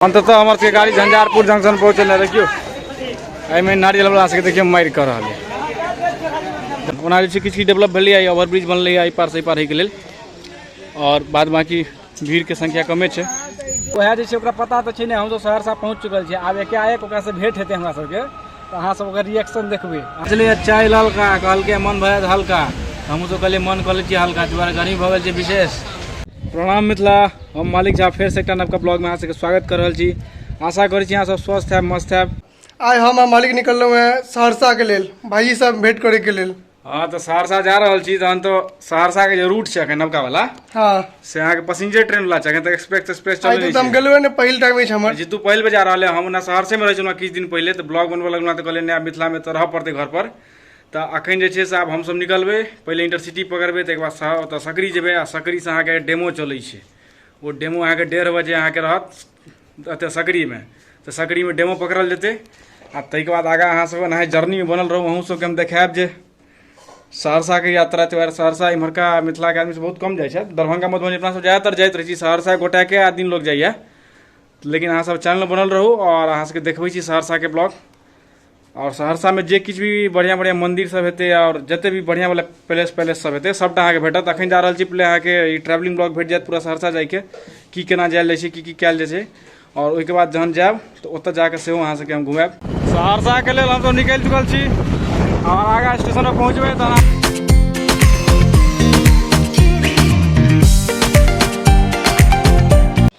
अन्ततः हमर सबके गाड़ी झंझारपुर जंक्शन पहुँचल देखियौ एहिमे नारियल वाला सबके देखियौ मारि कऽ रहल है ओना जे छै किछु किछु डेवलप भेलैए ओवरब्रिज बनलैए एहि पार से एहि पार होइके लेल आओर बाद बाकी भीड़के संख्या कमे छै वएह जे छै ओकरा पता तऽ छै ने हमसब सहरसा पहुँच चुकल छियै आब एकाएक ओकरासँ भेंट हेतै हमरा सबके तऽ अहाँ सब ओकर रिएक्शन देखबै चलिए चाय ललका कहलकै मन भए हल्का हमहूँ सब कहलियै मन कऽ लै छियै हल्का दुआरे गर्मी भऽ गेल छै विशेष प्रणाम मिथिला हम मालिक झा फेर से एकटा नवका ब्लॉग में अहाँ सबके स्वागत कर रहल छी आशा करै छी अहाँ सब स्वस्थ है मस्त है आइ हम आ मालिक निकललहुँ हैं सहरसा के लेल भाई सब भेंट करे के लेल हाँ तो सहरसा जा रहल छी तहन तो सहरसा के जे रूट छै अखन नवका वाला हाँ से अहाँ के पैसेंजर ट्रेन वाला छै अखन तक एक्सप्रेस एक्सप्रेस आइ चलै तो हम छै गेलहुँ ने पहिल टाइम अछि हमर जीतू पहल बजा रहल है हम ओना सहरसे में रहै छलहुँ किछु दिन पहले तो ब्लॉग बनबऽ लगलहुँ तो कहलियै नया मिथिला में तो रहऽ पड़तै घर पर तऽ अखन जे छै से आब हमसभ निकलबै पहिले इंटरसिटी पकड़बै ताहिके बाद सँ ओतऽ सकरी जेबै आ सकरीसँ अहाँके डेमो चलै छै ओ डेमो अहाँके डेढ़ बजे अहाँके रहत एतऽ सकरीमे तऽ सकरीमे डेमो पकड़ल जेतै आ ताहिके बाद आगाँ अहाँसभ एनाहि जर्नीमे बनल रहू अहूँ सभके हम देखायब जे सहरसाके यात्रा त्यौहार सहरसा इम्हरका मिथिलाके आदमी बहुत कम जाइ छथि दरभंगा मधुबनी अपना सभ ज्यादातर जाइत रहै छी सहरसा गोटाके आदमी लोक जाइए लेकिन अहाँसभ चैनल बनल रहू आओर अहाँसभके देखबै छी सहरसाके ब्लॉग आओर सहरसामे जे किछु भी बढ़िआँ बढ़िआँ मन्दिर सभ हेतै आओर जते भी बढ़िआँ वाला पैलेस तैलेस सभ हेतै सभटा अहाँकेँ भेटत अखन जा रहल छी पहिले अहाँकेँ ई ट्रेवलिंग ब्लॉग भेट जायत पूरा सहरसा जायके की केना जायल जाइ छै की की कयल जाइ छै आओर ओहिके बाद जहन जायब तऽ ओतऽ जाकऽ सेहो अहाँ सभके हम घुमायब सहरसाके लेल हमसभ निकलि चुकल छी आओर आगाँ स्टेशन पर पहुँचबै तऽ अहाँ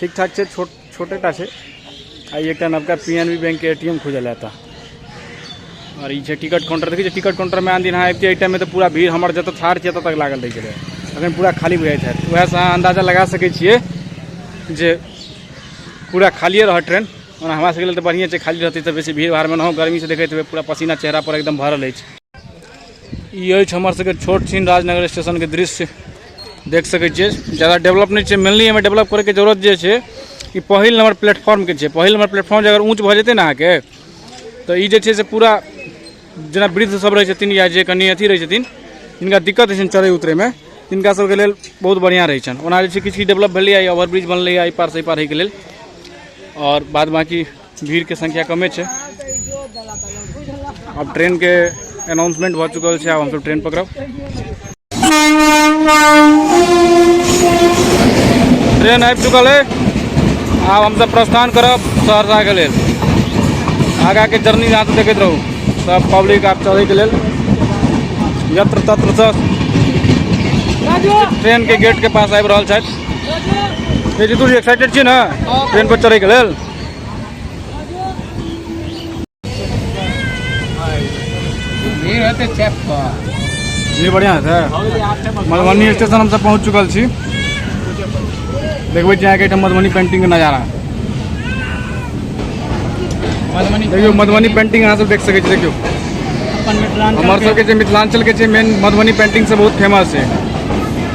ठीक ठाक छै छोट छोटेटा छै आ एकटा नवका पी एन बी बैंकके ए टी एम खुजल है एतऽ आओर ई छै टिकट काउंटर देखै छियै टिकट काउंटरमे आन दिन अहाँ अबितियै एहि टाइममे तऽ पूरा भीड़ हमर जतऽ ठाढ़ छियै ततऽ लागल रहै छलै अखन पूरा खाली बुझाइत हैत उएहसँ अहाँ अन्दाजा लगा सकै छियै जे पूरा खालिए रहत ट्रेन ओना हमरा सबके लेल तऽ बढ़िए छै खाली रहतै तऽ बेसी भीड़ भाड़मे नहो गर्मीसँ देखैत हेबै पूरा पसीना चेहरा पर एकदम भरल अछि ई अछि हमर सबके छोट छीन राजनगर स्टेशनके दृश्य देख सकै छियै जादा डेवलप नहि छै मेनली एहिमे डेवलप करैके जरूरत जे छै ई पहिल नम्बर प्लेटफॉर्मके छै पहिल नम्बर प्लेटफॉर्म जे अगर ऊँच भऽ जेतै ने अहाँके तऽ ई जे छै से पूरा जेना वृद्ध सब रहै छथिन या जे कनि अथी रहै छथिन जिनका दिक्कत होइ छनि चढ़ै उतरैमे तिनका सबके लेल बहुत बढ़िआँ रहै छनि ओना जे छै किछु किछु डेवलप भेलैए ओवरब्रिज बनलैए एहि पारसँ एहि पार होइके लेल आओर बाद बाँकी भीड़के संख्या कमे छै आब ट्रेनके अनाउंसमेंट भऽ चुकल छै आब हमसभ ट्रेन पकड़ब ट्रेन आबि चुकल है आब हमसभ प्रस्थान करब सहरसाके लेल आगाके जर्नी यहाँ से देखते रहू सब पब्लिक आप चले के लेल यत्र तत्र से ट्रेन के गेट के पास आबि रहल छथि एक्साइटेड छी ने ट्रेन पर चढ़े के लेल जी बढ़िया है मधुबनी स्टेशन हम सब पहुँच चुकल छी देखबे जाए के मधुबनी पेंटिंग के नजारा मधुबनी देखियो मधुबनी पेंटिंग यहाँ सब देख सके देखियो हमारे सबके मिथिलांचल के मेन मधुबनी पेंटिंग से बहुत फेमस है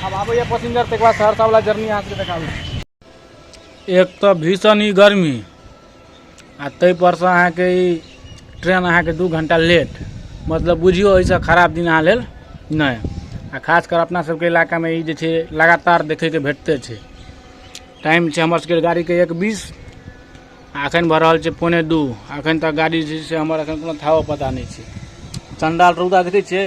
आब आबैए पसिंजर ताहिके बाद सहरसावला जर्नी अहाँके देखाबै छी एक तऽ भीषण ई गर्मी आ ताहिपरसँ अहाँके ई ट्रेन अहाँके दू घण्टा लेट मतलब बुझियौ एहिसँ खराब दिन अहाँ लेल नहि आ खास कर अपना सबके इलाकामे ई जे छै लगातार देखैके भेटते छै टाइम छै हमर सबके गाड़ीके एक बीस आ एखन भऽ रहल छै पौने दू एखन तक गाड़ी जे छै से हमर एखन कोनो थाहो पता नहि छै चण्डाल रौदा देखै छियै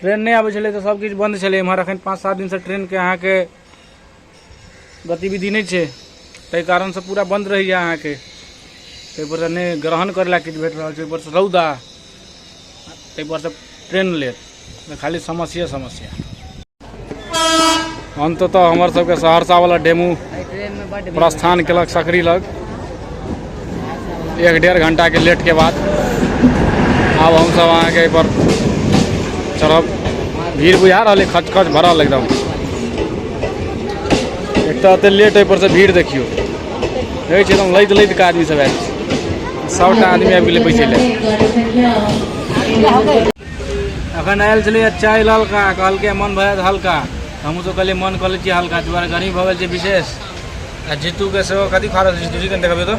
ट्रेन नहि आबै छलै तऽ सबकिछु बन्द छलै एमहर एखन पाँच सात दिनसँ ट्रेनके अहाँके गतिविधि नहि छै ताहि कारणसँ पूरा बन्द रहैए अहाँके ताहिपरसँ नहि ग्रहण करै लए किछु भेट रहल छै ओहिपरसँ रौदा ताहिपरसँ ट्रेन लेट खाली समस्ये समस्या अन्ततः हमर सबके सहरसावला डेमू प्रस्थान केलक सकरी लग एक डेढ़ घंटाके लेटके बाद आब हमसब अहाँके एहिपर चढ़ब भीड़ बुझा रहल अइ खच खच भरल एकदम एक तऽ एतेक लेट एहिपरसँ भीड़ देखियौ देखै छियै एकदम लैत लैत आदमी सब आयल छै सभटा आदमी आबि गेलै बैसै लए अखन आयल छलै चाय ललका कहलकै मन भऽ जायत हल्का हमहूँ सब कहलियै मन कऽ लै छियै हल्का दुआरे गर्मी भऽ गेल छै विशेष आ जीतूके सेहो कथी खा रहल छै जीतू चिकन देखबियौ तऽ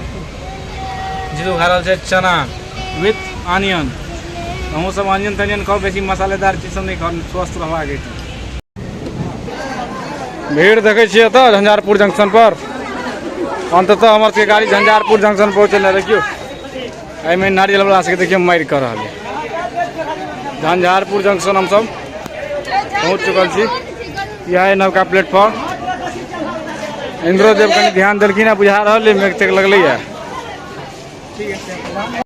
जीतू खा रहल छै चना विथ ऑनियन हमहूँ सब ऑनियन तनियन खाउ बेसी मसालेदार चीज सब नहि खाउ स्वस्थ रहबाक अछि भीड़ देखै छियै एतऽ झंझारपुर जंक्शन पर अंततः हमर सबके गाड़ी झंझारपुर जंक्शन पहुँचल देखियौ एहिमे नारियल वाला सबके देखियौ मारि कऽ रहल है झंझारपुर जंक्शन हमसब पहुँच चुकल छी यह है नवका प्लेटफॉर्म इंद्रो देव कनि ध्यान देलखिन है बुझा रहल है मेघ तेघ लगल है ठीक है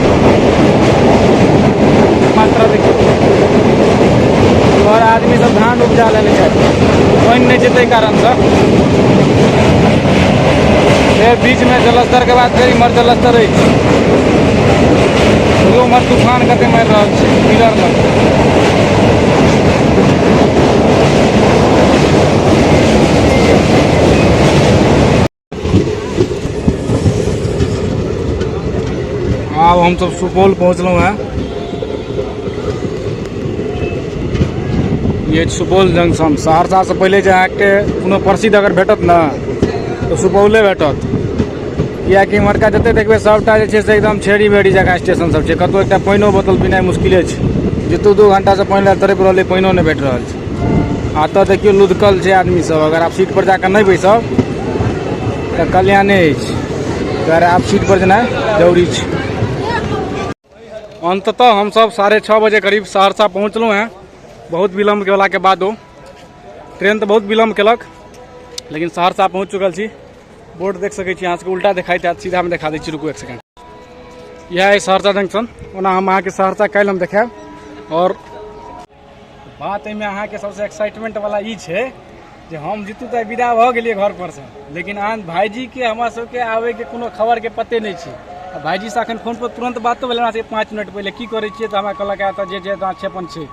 मात्रा देखियौ घर आदमी सब धान उपजा लेने छै पानि नहि छै ताहि कारणसँ फेर बीचमे जलस्तरके बाद फेर इम्हर जलस्तर अछि उम्हर तूफान कते मारि रहल छै पिलर लग आब हमसभ सुपौल पहुँचलहुँ हेँ ये सुपौल जंक्शन सहरसासँ पहिले जे अहाँके कोनो प्रसिद्ध अगर भेटत ने तऽ सुपौले भेटत किएकि इम्हरका जतेक देखबै सभटा जे छै से एकदम छेड़ी बेड़ी जकाँ स्टेशन सब छै कतहु एकटा पानिओ बोतल पीनाइ मुश्किले छै जे दू दू घण्टासँ पानि लए तड़पि रहलै पानिओ नहि भेट रहल छै एतऽ देखियौ लुधकल छै आदमी सब अगर आप सीट पर जाकर नहीं बैसब तो कल्याणे अगर आप सीट पर जेना जरूरी छै अंततः हम सब साढ़े छः बजे करीब सहरसा पहुँचलहुँ हैं बहुत विलम्ब के वाला के बाद ट्रेन तो बहुत विलम्ब कलक लेकिन सहरसा पहुँच चुकल छी बोर्ड देख सकै छी अहाँ सबके उल्टा देखाइत हैत सीधा में देखा दै छी रुकू एक सेकेंड यह है सहरसा जंक्शन ओना हम अहाँके सहरसा कल हम देखायब और बात एहिमे अहाँके सबसे एक्साइटमेंट वाला ई छै जे हम जीतू तऽ विदा भऽ गेलियै घर पर से लेकिन अहाँ भाईजी के हमरा सबके आबे के कोनो खबर के पते नहि छै आ भाईजी से अखन फोन पर तुरंत बातो भेल हमरा से पाँच मिनट पहिले की करै छियै तऽ हमरा कहलक "आ, तऽ जे जे दाँत छै अपन छै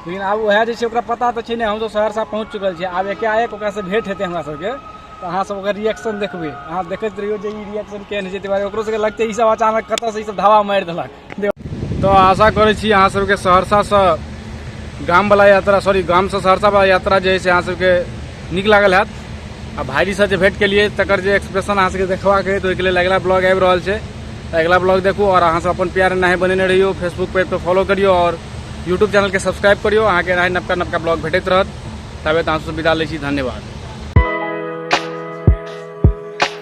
लेकिन आब उएह जे छै ओकरा पता तऽ छै ने हमसब सहरसा पहुँच चुकल छियै आब एकाएक ओकरा से भेंट हेतै हमरा सबके तऽ अहाँ सब ओकर रिएक्शन देखबै अहाँ देखैत रहियौ जे ई रिएक्शन केहन होइ छै ताहि दुआरे ओकरो सबके लगतै ई सब अचानक कतऽ से ई सब धावा मारि देलक तो आशा करे छी अहाँ सबके सहरसा से गाम वाला यात्रा सॉरी गाम से सहरसा वाला यात्रा जे है से अहाँ सबके नीक लागल हैत आ भाईजी से जे भेंट केलिए तकर जे एक्सप्रेशन अहाँ सबके देखबाक है तो ओहिके लेल अगिला ब्लॉग आबि रहल छै तऽ अगिला ब्लॉग देखू और अहाँ सब अपन प्यार एनाहे बनेने रहियो फेसबुक पेज पर फॉलो करियो और यूट्यूब चैनल के सब्सक्राइब करियो अहाँके एनाहे नवका नवका ब्लॉग भेटैत रहत ताबे तऽ अहाँ सब विदा लै छी धन्यवाद